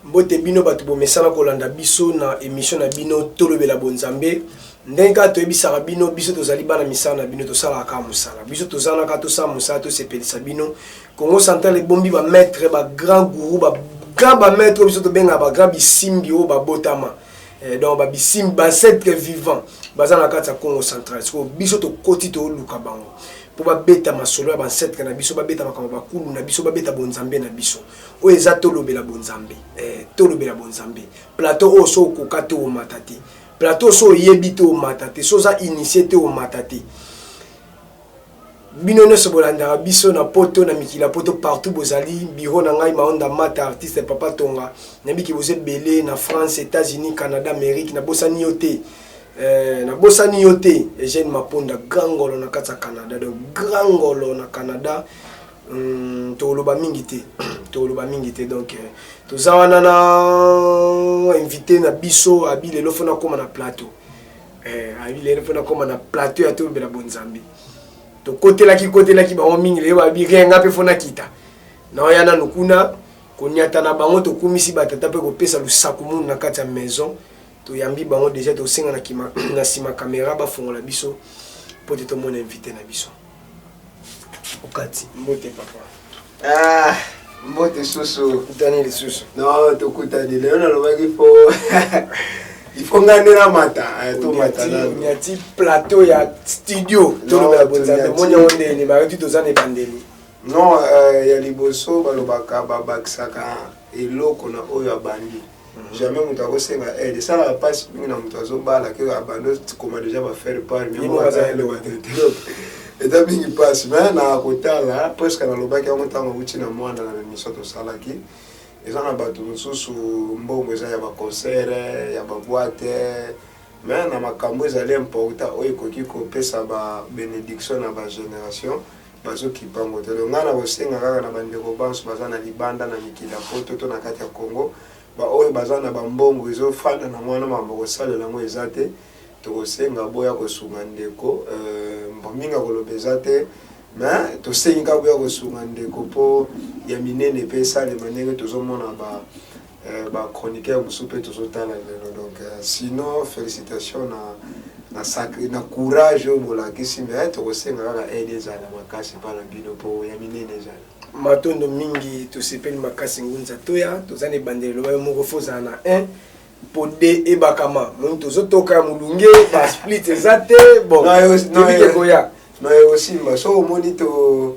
Mbote bino bato bomesana kolanda biso na emission na bino tolobela bonzambe ndenge kaka toyebisaka bino biso tozali bana misala na bino tosalaka kaka mosala biso tozana kaka tosala mosala tosepelisa bino congo central ebombi bamaitre bagrand gourou ba grand bamaitre oyo biso tobengaka bagrand bisimbi oyo babotama eh, donc babisimbi bancetre vivant baza na kati ya congo central sikoyo biso tokoti toluka bango mpo babeta masolo ya bancetre na biso babeta makambo bakulu na biso babeta bonzambe na biso oyo eza tolobela bonzambe eh, tolobela bonzambe plateau oyo so okoka te omata te plateau so oyebi te omata te so oza initie te omata te bino nyonso bolandaka biso na poto na mikili ya poto partout bozali biro na ngai maonda mata artiste papa tonga nayebiki boza ebele na france états-unis canada amérique nabosani yo te eh, nabosani yo te eugène maponda grand ngolo na kati ya canada donc grand ngolo na canada Hum, tokoloba mingi te tokoloba mingi te donc euh, toza wana na invité na biso abi lelo fo nakóma na plateau eh, abi lelo fo nakóma na plateau ya tolobela bonzambe tokotelaki kotelaki bango mingi lelo babi rien nga mpe fo nakita naoya nanu kuna konyata na bango tokumisi batata mpe kopesa lusaku munu na kati ya maison toyambi bango deja tosenga na nsima kamera bafongola biso mpo te tomona invité na biso okati mbote papa ah, mbote susu tokutani lisusu no tokutani lelo nalobaki po ifo nga nde namata eh, tomataati plateau ya studio tolobela bonzambe omoni yango nde elima yo ti toza na ebandeli non euh, ya liboso balobaka babakisaka eloko na oyo abandi mhm. jamais moto akosenga aide esalaka mpasi mingi na moto azobala ke abandi okoma deja bafaire part eza mingi mpasi me na kotala presque nalobaki yango ntango auti na mwana na miso tosalaki eza na bato mosusu mbongo eza ya baconcert ya baboite me na makambo ezali important oyo ekoki kopesa babenediction na bagénération Bazokibango te donc ngai nakosenga kaka na bandeko banso baza na libanda na mikili ya poto to na kati ya congo baoyo baza na bambongo ezofanda na mwana mambo kosalela yango eza te tokosenga boya kosunga ndeko euh, mbo mingi akoloba eza te mais tosengi kaka boya kosunga ndeko mpo ya minene mpe esalema ndenge tozomona ba Eh ba chroniqueurs mususu pe tozo tala lelo donc eh, sinon felicitations na na sacre na courage oyo bolakisi mais eh, tokosenga kaka aide ezala makasi pa na bino po ya minene ezala matondo mingi tosepeli makasi ngunza toya toza na ebandeli elobaki moko fo ozala na 1 mpo de ebakama moni tozotoka ya molunge basplit eza te bon tobike koya noye osimba so omoni to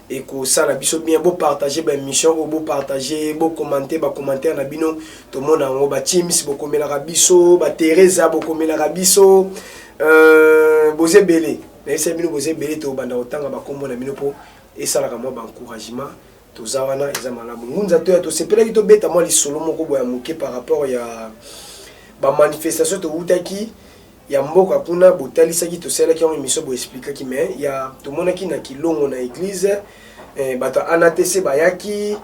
Ekosala biso bien bo partager ba emission oyo bo partager bo commenter ba commentaire na bino tomona yango ba teams bokomelaka biso ba Teresa bokomelaka biso euh, boze bele nayebisa bino boze bele tobanda kotanga bakombo na bino mpo esalaka mwa ba encouragement toza wana eza malamu ngunza toya tosepelaki tobeta mwa lisolo moko boya moke par rapport ya bamanifestation towutaki ya mboka kuna botalisaki tosalaki yango emission bo explikaki mais ya tomonaki na kilongo na eglise eh, bato ya anatc bayaki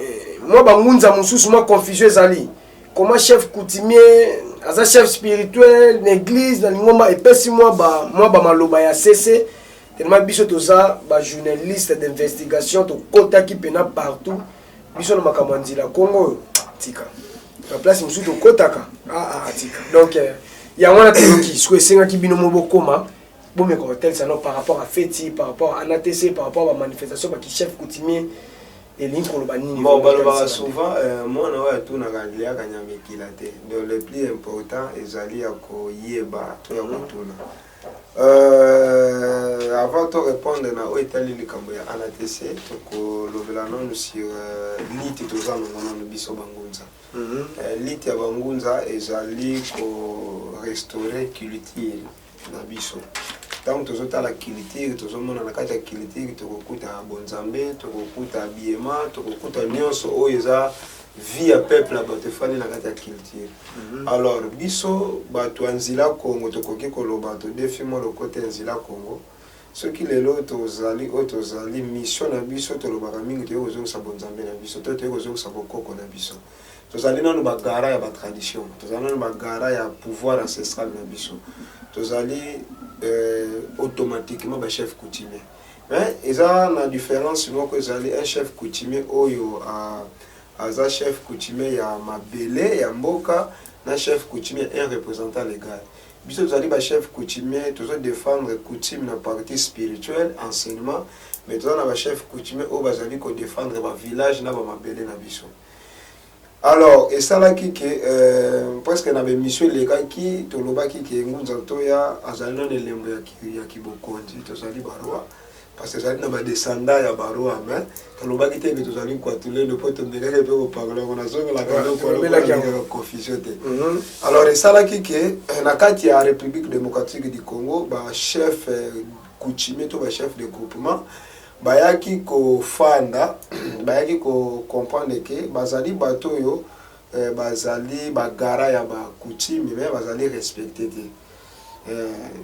eh, mwa bangunza mosusu mwa confusion ezali comment chef coutumier aza chef spirituel na église na lingomba epesi mwa ba mwa ba maloba ya sese tellement biso toza ba journaliste d'investigation tokotaki pena partout biso na makambo ya nzila kongo oyo tika na place mosusu tokotaka aa ah, ah, ah, tika donc euh, yango wana toyoki siko esengaki bino mo bokoma bomeka kotalisa no par rapport à feti par rapport à anatc par rapport à bamanifestation bakichef coutumier elingi koloba nini bon balobaka souvent euh, mwana oyo atunaka aliaka nyama ekila te donc le plus important ezali ya koyeba to ya kotuna mm. Euh, avant to répondre na oyo etali likambo ya anatc tokolobela nanu sur euh, lite toza nango nanu biso bangunza mm -hmm. euh, lite ya bangunza ezali korestaurer culture na biso ntango tozotala culture tozomona na kati ya culture tokokuta bonzambe tokokuta biema tokokuta nyonso oyo eza vie ya peuple ya bato efandi na kati ya culture mhm. alors biso bato ya nzila congo tokoki koloba todefi mwa lokota ya nzila congo soki lelo tozali oyo tozali mission na biso tolobaka mingi toyei kozongisa bonzambe na biso to toyei kozongisa bokoko na biso tozali nano bagara ya batradition tozali nano bagara ya pouvoir ancestral na biso tozali euh, automatiquement bachef coutumier Mais eza na difference moko ezali un chef coutumier oyo a aza chef coutumier ya mabele ya mboka na chef coutumier un representant legal biso tozali ba chef coutumier tozo défendre coutume na partie spirituelle enseignement mais toza na ba chef coutumier oyo bazali ko défendre ba village na ba mabele na biso Alors esalaki ke euh, presque na bemission elekaki tolobaki ke Ngunza Ntoya azali na elembo ya, ki, ya kibokonzi tozali barwa parce que ezali na badescendant ya barwa mais tolobaki te ke tozali nkwatulendo mpo tomekaki mpe kopakola yango nazongelaka eloko confusion te mhm. alors esalaki ke euh, na kati ya république démocratique du congo bachef euh, coutumier to bachef de groupement Bayaki kofanda, bayaki ko comprendre que bazali bato oyo bazali ba garants ya ba coutumes mais bazali respecter te.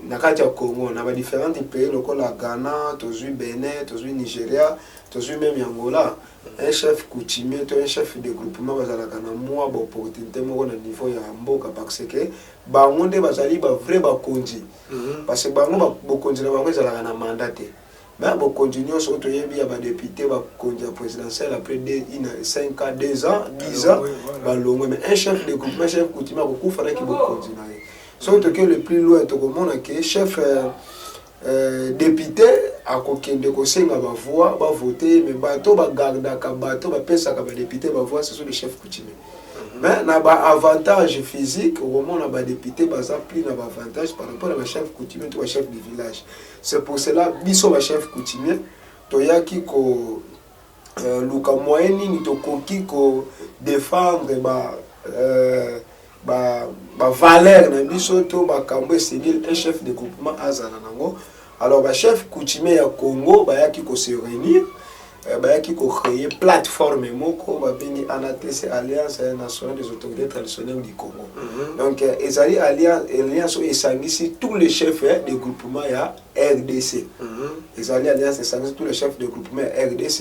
Na kati ya Congo, na ba differentes pays lokola Ghana, tozui Benin, tozui Nigeria, tozui meme Angola, un chef coutumier to un chef de groupement bazalaka na mua ba opportunites moko na niveau ya mboka par ce que bango nde bazali ba vrais bakonzi. Parce que bango bokonzi na bango ezalaka na mandat te. Ba bokonzi nionso oyo toyebi ya ba deputes ba konzi ya presidentielle après deux une cinq ans deux ans dix ans ba longwe mais un chef de coutume un chef coutume ako kufa na ki bokonzi na ye soki toke le plus loin toko mona ke chef euh, euh, depute ako kende ko senga ba voix ba voter mais bato ba gardaka bato ba pesaka ba depute ba voix ce sont les chefs coutumiers mais na ba avantage physique okomona ba depute baza plus na ba avantage par rapport na ba chef coutumier to ba chef de village C'est pour cela biso ba chef coutumier toyaki ko euh, luka moyen nini tokoki ko défendre ba euh, ba ba valeur na biso to makambo esengeli un chef de groupement azala nango alors ba chef coutumier ya Congo bayaki ko se réunir Eh, bayaki ko créer plateforme moko babengi anatese alliance nationale des autorités traditionnelles du congo mm -hmm. donc euh, ezali alliance oyo esangisi tous les chefs eh, de groupement ya rdc mm -hmm. ezali alliance esangisi tous les chefs de groupement ya rdc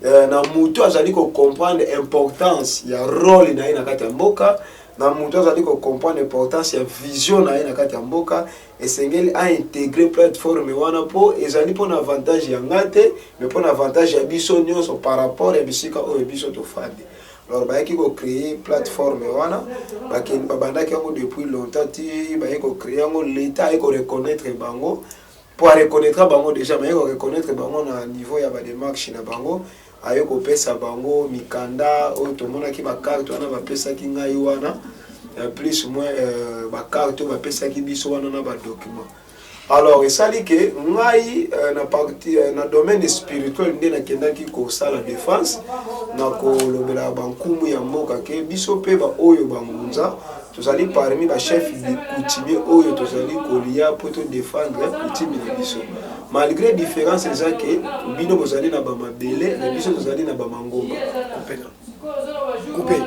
euh, na motu azali kocomprendre importance ya role na ye na kati ya mboka na motu azali kocomprendre importance ya vision na ye na kati ya mboka Esengeli a integrer plateforme wana mpo ezali mpo na avantage ya nga te, mais mpo na avantage ya biso nionso par rapport ya bisika oyo biso tofandi. Alors bayaki ko creer plateforme wana, bakende babandaki yango depuis longtemps ti baye ko creer yango, l'Etat aye ko reconnaitre bango mpo a reconnaitre bango dejà mais aye ko reconnaitre bango na niveau ya ba demarches na bango Aye kopesa bango mikanda oyo tomonaki ba carte wana bapesaki ngai wana plus moins euh, ba carte oyo bapesaki biso wana na ba document alors esali ke ngai euh, na parti euh, na domaine spirituel nde nakendaki kosala defense na kolobela bankumu ya mboka ke biso mpe baoyo bangunza tozali parmi bachef coutumier oyo tozali kolia mpo todefendre coutume na biso Malgre difference eza ke bino bozali na ba mabele na biso tozali na ba mangomba. Coupe.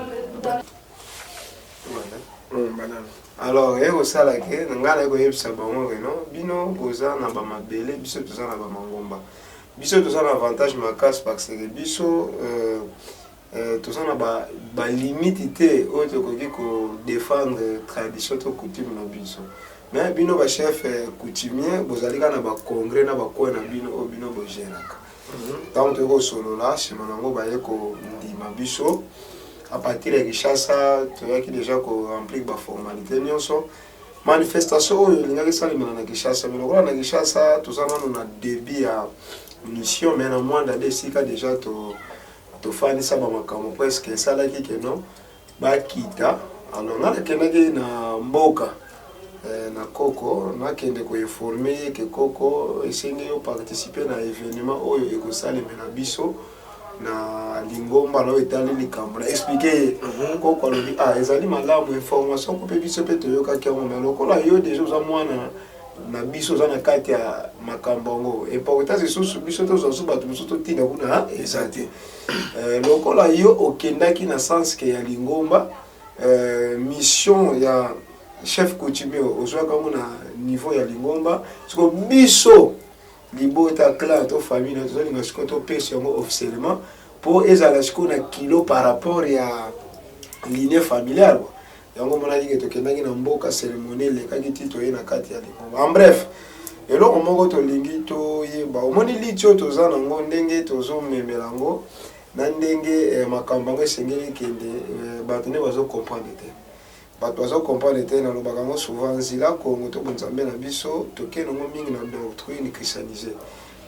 Alors ye kosala ke na ngai naye koyebisa bango ke non bino boza na ba mabele biso toza na ba mangomba. Biso toza na avantage makasi parce que biso euh, Euh, toza na ba, ba limite te oyo tokoki ko défendre tradition to coutume na biso mais bino ba chef euh, coutumier bozali kaka na ba congrès na ba coin na bino oyo bino bogeraka ntango mhm. toyei kosolola nsima na yango baye kondima biso à partir ya kinshasa toyaki déjà ko remplir ba formalité nyonso manifestation oyo elingaki esalemela na kinshasa mais lokola na kinshasa toza nano na début ya mission mais na mwanda nde esika déjà to tofandisa ba makambo presque esalaki que non bakita alors nga nakendaki na mboka eh, na koko nakende koinforme ye ke koko esengi yo participe na événement oyo ekosalemela biso na lingomba na oyo etali likambo na explike ye mhm. koko alobi ah ezali malamu information ko mpe biso mpe toyokaki yango me lokola yo deja oza mwana na biso oza na kati ya makambo yango importance lisusu biso tozwa so bato mosusu totinda kuna eza te euh, lokola yo okendaki na senske ya lingomba euh, mission ya chef coutumier ozwaka yango na niveau ya lingomba siko biso libota clan to famille na tozolinga sikoyo topesa yango officiellement mpo ezala sikoyo na kilo par rapport ya ligne familiale yango omonaki ke tokendaki na mboka ceremonie elekaki ti toye na kati ya lingomba en bref eloko moko tolingi toyeba omoni liti oyo toza nango ndenge tozomemela yango na ndenge eh, makambo yango esengeli kende eh, bato nde bazokomprendre te bato bazokomprendre te nalobaka yango souvent nzela kongo to bonzambe na biso toke nango mingi na doctrine christianise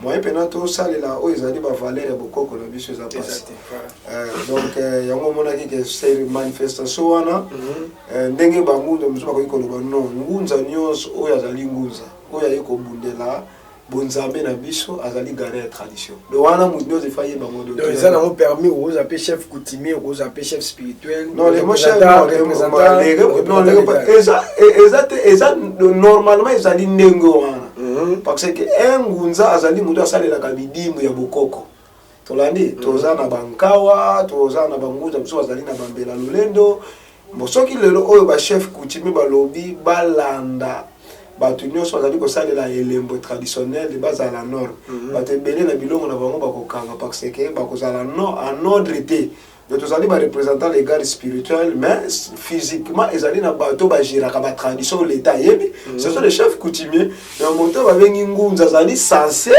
moyen mpena tosalela oyo ezali bavaleur ya bokoko na biso eza mpasi euh, donc euh, yango omonaki ke seri manifestation wana mhm. euh, ndenge bangunza mosusu bakoki koloba non ngunza nyonso oyo azali ngunza oyo aye kobundela bonzambe na biso azali gare ya tradition de wana moto nyonso efa ye bango eza nango permis okozwa mpe chef coutumier okozwa mpe chef spirituel eza te eza normalement ezali ndenge wana Mhm, parce que un ngunza azali moto asalelaka midimu ya bokoko tolandi mhm. toza na bankawa toza na bangunza mosusu bazali na bambela lolendo bon soki lelo oyo bachef coutumier balobi balanda bato nyonso bazali kosalela elembo traditionnel bazala nord mhm. bato ebele na bilongo na bango bakokanga parce que bakozala en ordre te Mais tozali ba representant legal spirituel mais physiquement ezali na bato bagéraka ba tradition oyo leta ayebi mm -hmm. ce sont les chefs coutumiers na moto babengi ngunza azali sense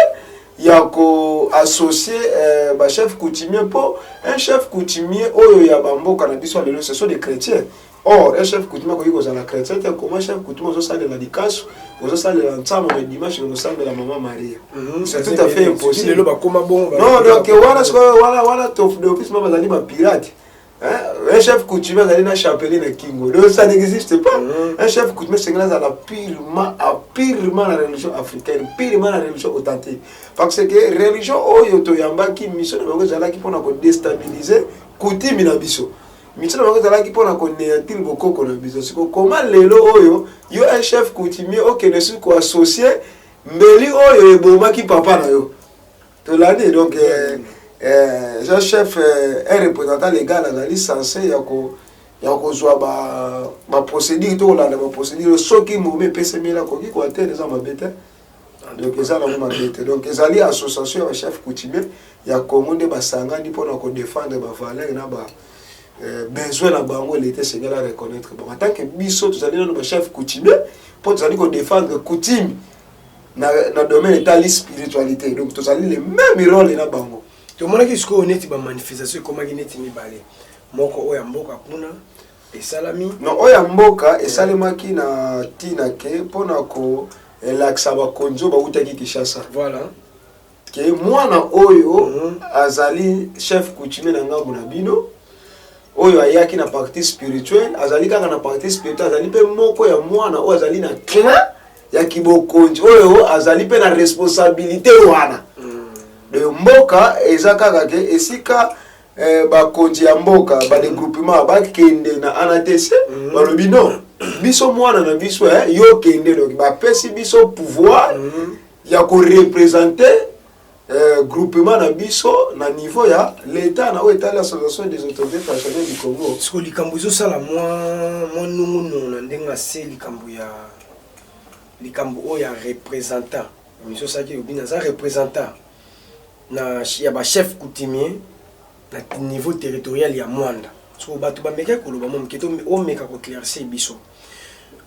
ya koassocie euh, bachef coutumier mpo un chef coutumier oyo ya bamboka na biso ya lelo ce sont des chrétiens Or un chef coutumier akoki kozala chretien te, comment chef coutumier ozosalela likasu, ozosalela nsambo mais dimanche okosambela mama Maria. Mhm. C'est tout à fait impossible. Lelo bakoma bongo ba. Non donc wana sikoyo wana wana tofu de office mama bazali ba pirate. Hein? Un chef coutumier azali na chapelet na kingo. Donc ça n'existe pas. Mhm. Un chef coutumier sengela azala purement à purement la religion africaine, purement la religion authentique. Parce que religion oyo toyambaki mission na bango ezalaki mpona ko déstabiliser coutume na biso. Mituna na bango ezalaki mpo na koneantile bokoko na biso. Siko koma lelo oyo yo un chef coutumier okende susu koassocie mbeli oyo ebomaki papa na yo tolandi donc eh, eh, jean chef eh, un représentant légal azali sense ya ko ya kozwa baprocédure to kolanda baprocédure soki momi epesemeli akoki koatere eza mabe te donc eza nango mabe te donc ezali association ya bachef coutumier ya congo nde basangani mpona kodefendre bavaleur na ba euh, besoin na bango leta esengeli a reconnaître bango tant que biso tozali nano bachef coutumier mpo tozali kodefendre coutume na, na domaine etali spiritualité donc tozali le même role na bango tomonaki sikoyo neti bamanifestation ekomaki neti mibale moko oyo ya mboka kuna esalami no oyo ya mboka esalemaki na ntina ke mpo na kolakisa bakonzi oyo bautaki Kinshasa voilà ke mwana oyo mm -hmm. azali chef coutumier na ngambo na bino oyo ayaki na partie spirituelle azali kaka na partie spirituelle azali mpe moko ya mwana oyo azali na clan ya kibokonzi oyo azali mpe na responsabilité wana mm. de mboka eza kaka ke esika eh, bakonzi ya mboka badegroupement bakende na anatc mhm. balobi no biso mwana na biso eh, yo kende doki bapesi biso pouvoir mhm. ya korepresente eh, groupement na biso na niveau ya leta na oyo etali association des autorités traditionnelles du congo siko likambo ezosala mwa nungunungu na ndenge ase likambo ya likambo oyo ya représentant miso osalaki lobi naza représentant na ya ba chefs coutumiers na niveau territorial ya Moanda. So bato bamekaki koloba mwa moke to omeka ko claircir biso.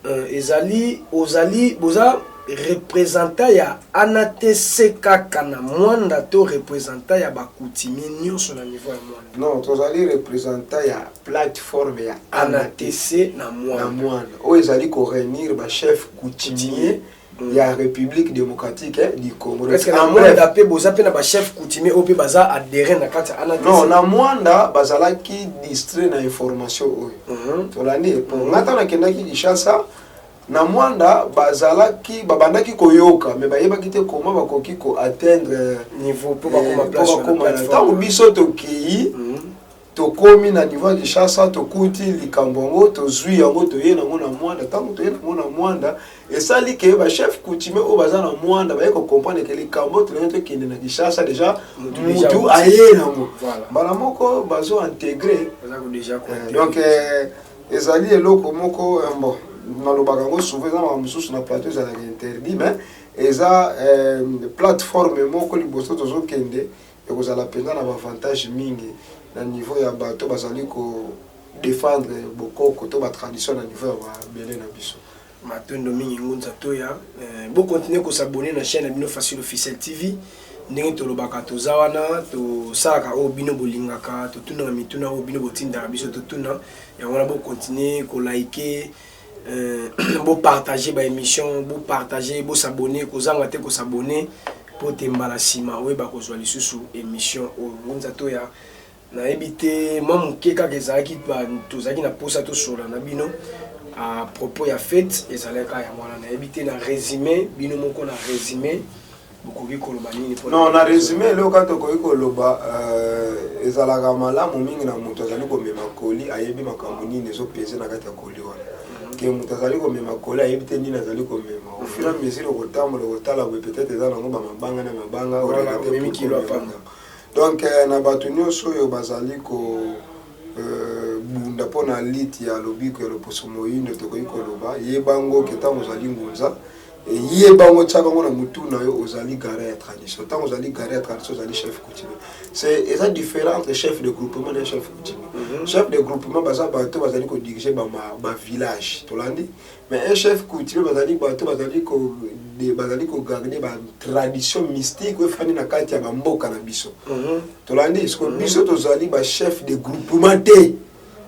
Euh, ezali ozali boza representant ya anatc kaka na mwanda to representant ya bakutimi nyonso na niveau ya mwanda non tozali representant ya plateforme ya anatc na mwanda oyo ezali koreunir bachef coutumier, coutumier. ya Republique democratique eh, du Congo. Est-ce que na Mwanda pe boza pe na ba chef coutumier au pe baza adhérent na kati ana Non, na Mwanda bazalaki distrait na information oyo. Mm -hmm. Tolandi po mm -hmm. ngata na kendaki Kinshasa na Mwanda bazalaki babandaki koyoka mais bayebaki te comment bakoki ko atteindre niveau po bakoma eh, place. Ntango biso tokeyi mm -hmm. tokomi na niveau ya kinshasa tokuti likambo yango tozwi yango toye nango na mwanda ntango toye nango na mwanda esali ke bachef coutumier oyo baza na mwanda baye kocomprendre ke likambo tolingi tokende na kinshasa deja mutu aye nango mbala moko bazo integre eh, donc eh, ezali eloko moko eh, bon nalobaka yango souvent eza makambo mosusu na plateau ezalaka interdit mais eza plateforme moko liboso tozokende Ekozala mpenza na b'avantages mingi na niveau ya bato bazali ko defendre bokoko to ba traditions na niveau ya mabele na biso. Matondo mingi Ngunza Toya. Bo continuer ko s'abonner na chaine na bino Facile Officiel TV. Ndenge tolobaka toza wana tosalaka oyo bino bolingaka, totunaka mituna oyo bino botindaka biso totuna. Yango wana bo continuer ko liker Euh, bo partager ba émission bo partager bo s'abonner kozanga te ko s'abonner mpo te mbala nsima oyeba kozwa lisusu émission oyo ngunza to ya nayebi te mwa moke kaka ezalaki tozalaki na mposa tosolola na bino à propos ya fete ezalaka yango wana nayebi te na résumé bino moko na résumé bokoki koloba nini pona non na resume eloko kaka tokoki koloba euh, ezalaka malamu mingi na moto azali komema koli ayebi makambo nini ezopese na kati ya koli wana mhm. ke moto azali komema koli ayebi te nini azali komema au fur et à mhm. mesure okotambola okotala boye peut-être eza nango bamabanga na mabanga donc euh, na bato nyonso oyo bazali ko euh, bunda mpo na liti ya lobiko ya loposo moindo tokoki koloba ye bango ke ntango ozali ngunza Yeba yango otyaka yango na motu na yo ozali garant ya tradition ntango ozali garant ya tradition ozali chef coutumier c'est eza différent entre chef de groupement na chef coutumier mm -hmm. chef de groupement baza bato bazali kodirige bavillage ba tolandi mais un chef coutumier bazali bato bazali bazali kogarde batradition mystique oyo efandi na kati ya bamboka na biso mm -hmm. tolandi siko mm -hmm. biso tozali bachef de groupement te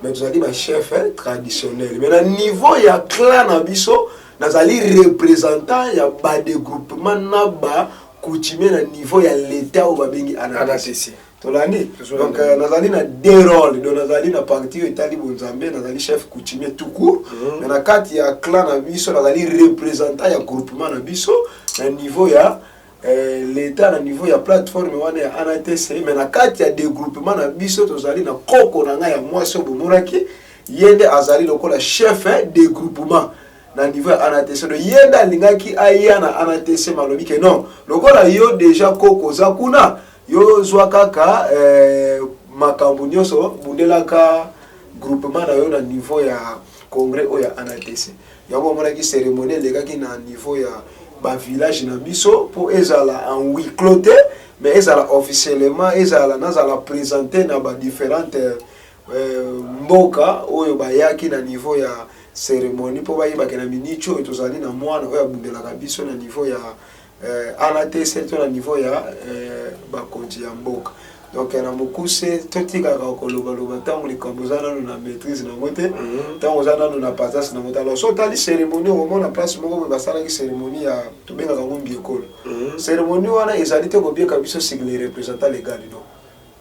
mais tozali ba chef eh, traditionnel mais na niveau ya clan na biso nazali représentant ya ba degroupement na ba coutumier na niveau ya leta oyo babengi anatesi tolandi donc euh, nazali na deux role donc nazali na parti oyo etali bonzambe nazali chef coutumier tout court mhm. mais na kati ya clan na biso nazali représentant ya groupement na biso na niveau ya eh, leta na niveau ya plateforme wana ya anatc me na kati ya degroupement na biso tozali na koko na ngai ya mwasi oyo bomonaki ye nde azali lokola chef eh, degroupement na niveau ya anatc do ye nde alingaki aya na anatc malobi ke non lokola yo deja koko oza kuna yo zwa kaka eh, makambo nyonso bundelaka groupement na yo na niveau ya congrès oyo ya anatc Yango omonaki ceremonie elekaki na niveau ya ba village na biso mpo ezala en huis clos te mais ezala officiellement ezala nazala presente na ba différentes euh, mboka oyo bayaki na niveau ya ceremonie mpo bayebake na minicho oyo tozali na mwana oyo abundelaka biso na niveau ya eh, ala te surtout na niveau ya eh, bakonzi ya mboka donc na mokuse totikaka kolobaloba ntango likambo oza nano na maîtrise nango te mhm. ntango oza nano na pasase nango te alors so otali cérémonie okomona place moko boye basalaki cérémonie ya tobengaka ngo mbiekolo mhm. cérémonie wana ezali te kobieka biso sur les représentants légal no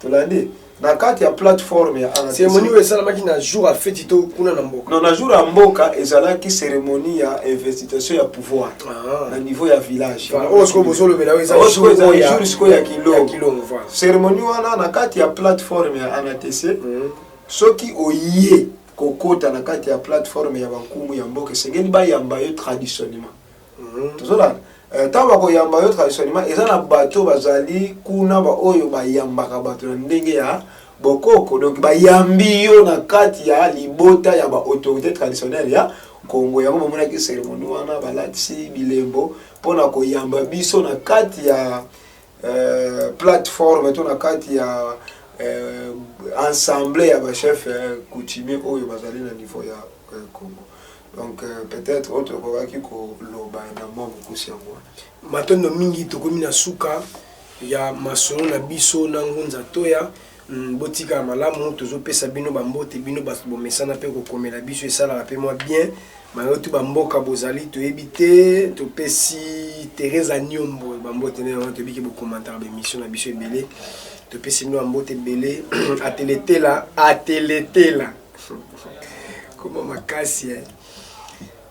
tolandi na kati ya plateforme ya cérémonie oyo esalamaki na jour ya feti to kuna na mboka non na jour ya mboka ezalaki cérémonie ya investitation ya pouvoir ah. na niveau ya village oyo sikoyo bozolobela oyo ezali jour sikoyo ya kilongo cérémonie wana na kati ya plateforme ya anatc hmm. soki oye kokota na kati ya plateforme ya bankumu ya mboka esengeli bayamba yo traditionnellement Mhm. tozolanda eh, ntango bakoyamba yo traditionnellement eza na bato oyo bazali kuna baoyo bayambaka bato na ndenge ya bokoko donc bayambi yo na kati ya libota ya baautorité traditionnelle ya kongo yango bamonaki cérémonie wana balatisi bilembo mpo na koyamba biso na kati ya eh, plateforme to na kati ya eh, ensemble ya bachef eh, coutumier oyo bazali na niveau ya eh, congo donc euh, peut-être oyo tokokaki koloba na mwa mokusi yango wana matondo mingi tokomi na suka ya masolo na biso na ngunza toya mm, botika ya malamu tozopesa bino bambote bino bato bomesana mpe kokomela biso esalaka mpe mwa bien bayoki bamboka bozali toyebi te topesi teresa niombo bambote nde yango toyebi ke bokomantaka baemission na biso ebele topesi bino bambote ebele ateletela ateletela Koma makasi eh.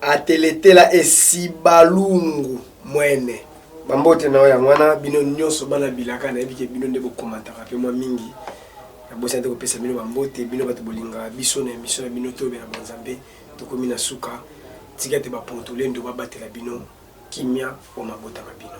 Ateletela esibalungu mwene. Bambote na yo yango wana bino nyonso bana bilaka nayebi ke bino nde bokomataka mpe mwa mingi nabosani te kopesa bino bambote bino bato bolingaka biso na emission na bino toyobela banzambe tokomi na suka tika te bapontolendo babatela bino kimia o mabota ma bino